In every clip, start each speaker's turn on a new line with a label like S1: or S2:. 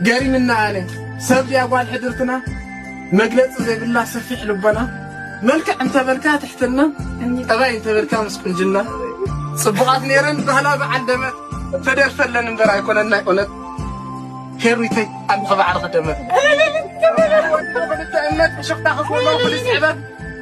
S1: ገሪምና ኣነ ሰብ ድያ ጓል ሕድርትና መግለጺ ዘይብላ ሰፊሕ ልቦና መልክዕ እንተበልካ ትሕትና ጠባይ እንተበልካ ምስ ቁንጅና ጽቡቓት ነይረን ባህላ በዓል ደመት ተደርፈለን እምበር ኣይኮነን ናይ ኦነት ሄሪተይ ኣንዲ ክባዕሪ ክደመት ክልተ እምነት ብሽፍታ ክፍሎ ፖሊስ ዕበት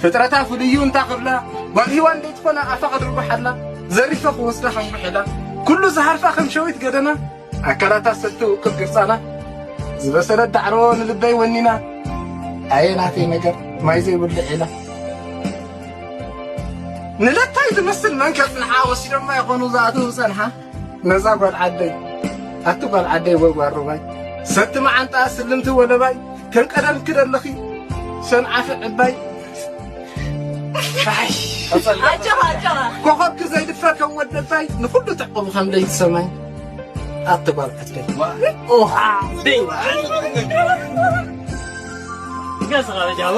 S1: ፍጥረታ ፍልዩ እንታ ክብላ ጓል ሂዋን ደይትኾና ኣፋ ከድርጉሓላ ዘሪፈ ክወስዳ ከም ጉሒላ ኩሉ ዝሃርፋ ከም ሸዊት ገደና ኣካላታ ሰቲ ውቅብ ግርጻና ዝበሰለት ዳዕሮ ንልበይ ወኒና ኣየ ናተይ ነገር ማይ ዘይብሉ ዒላ ንለታይ ዝመስል መንከፍ ንሓ ወሲዶማ ይኾኑ ዝኣትው ጸንሓ ነዛ ጓል ዓደይ ኣቲ ጓል ዓደይ ወይ ጓል ሩባይ ሰቲ መዓንጣ ስልምቲ ወለባይ ከም ቀደምኪ ደለኺ ሰንዓፊ ዕባይ ኮኸብኪ ዘይድፈር ከም ወደልታይ ንኹሉ ተዕቑቡ ከም ለይቲ ሰማይ ኣቲ ጓል ዓደይ ገጽኻ